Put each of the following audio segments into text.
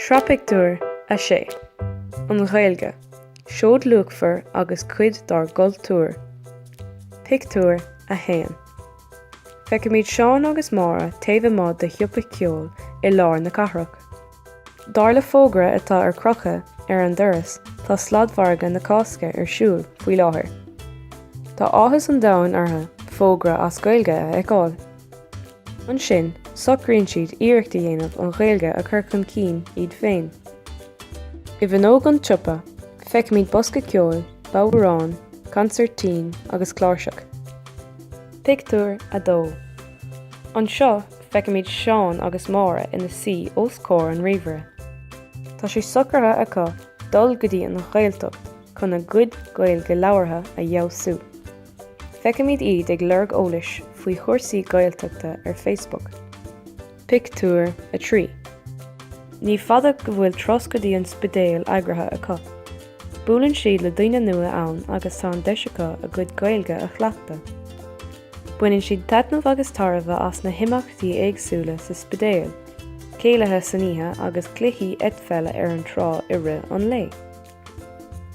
Sraith Pictiúr 6 An Ghaeilge, Seoid Luachmhar agus Cuid dár gCultúr Pictiúr 1 Feicimid Seán agus Máire taobh amuigh de shiopa ceoil i lár na cathrach. Dar le fógra atá ar crochadh ar an doras tá sladmhargadh na Cásca ar siúl faoi láthair. Tá áthas an domhain orthu fógra as Gaeilge a fheiceáil. Ansin, socraíonn siad iarracht a dhéanamh an Ghaeilge a chur chun cinn iad féin. I bhfuinneog an tsiopa, feicimid bosca ceoil, bodhráin, consairtín agus cláirseach. Pictiúr 2 Anseo, feicimid Seán agus Máire ina suí os comhair an ríomhaire. Tá sé socraithe acu dul go dtí an Ghaeltacht chun a gcuid Gaeilge labhartha a fheabhsú. Feicimid iad ag lorg eolais faoi chúrsaí Gaeltachta ar Facebook. Pictiúr 3 Ní fada go bhfuil turas go dtí an Spidéal eagraithe acu. Buaileann siad le daoine nua ann agus tá an deis acu a gcuid Gaeilge a chleachtadh. Baineann siad taitneamh agus tairbhe as na himeachtaí éagsúla sa Spidéal, céilithe san oíche agus cluichí eitpheile ar an trá i rith an lae.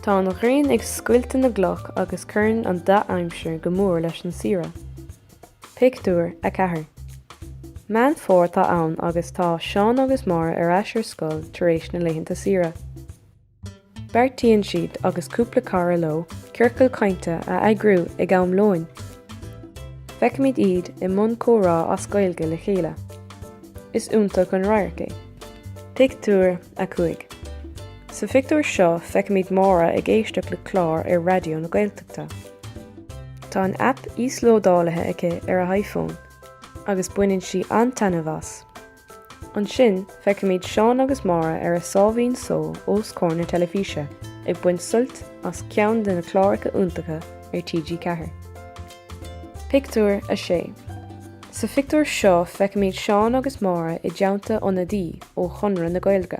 Tá an ghrian ag scoilteadh na gcloch agus cuireann an dea-aimsir go mór leis an saoire. Pictiúr 4 Meán Fómhair atá ann agus tá Seán agus Máire ar ais ar scoil tar éis na laethanta saoire. Beartaíonn siad agus cúpla cara leo ciorcal cainte a eagrú ag am lóin. Feicimid iad i mbun comhrá as Gaeilge le chéile. Is iontach an radharc é. Pictiúr 5 Sa phictiúr seo feicimid Máire ag éisteacht le clár ar Raidió na Gaeltachta. Tá an app íoslódálaithe aici ar a hiPhone agus baineann sí an-taitneamh as. Ansin feicimid Seán agus Máire ar a sáimhín só os comhair na teilifíse ag baint suilt as ceann de na cláracha iontacha ar TG4. Pictiúr 6 Sa phictiúr seo feicimid Seán agus Máire i dteannta ionadaí ó Chonradh na Gaeilge.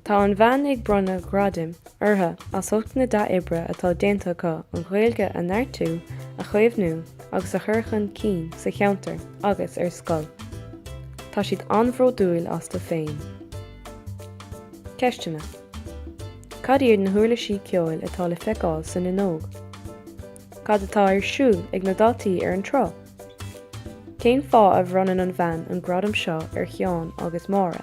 Tá an bhean ag bronnadh gradaim orthu as ucht na dea-oibre atá déanta acu an Ghaeilge a neartú, a chaomhnú agus a chur chun cinn sa cheantar agus ar scoil. Tá siad an-bhródúil astu féin. Ceisteanna Cad iad na huirlisí ceoil atá le feiceáil san fhuinneog? Cad atá ar siúl ag na daltaí ar an trá? Cén fáth a bhronnann an bhean an gradam seo ar Sheán agus Máire?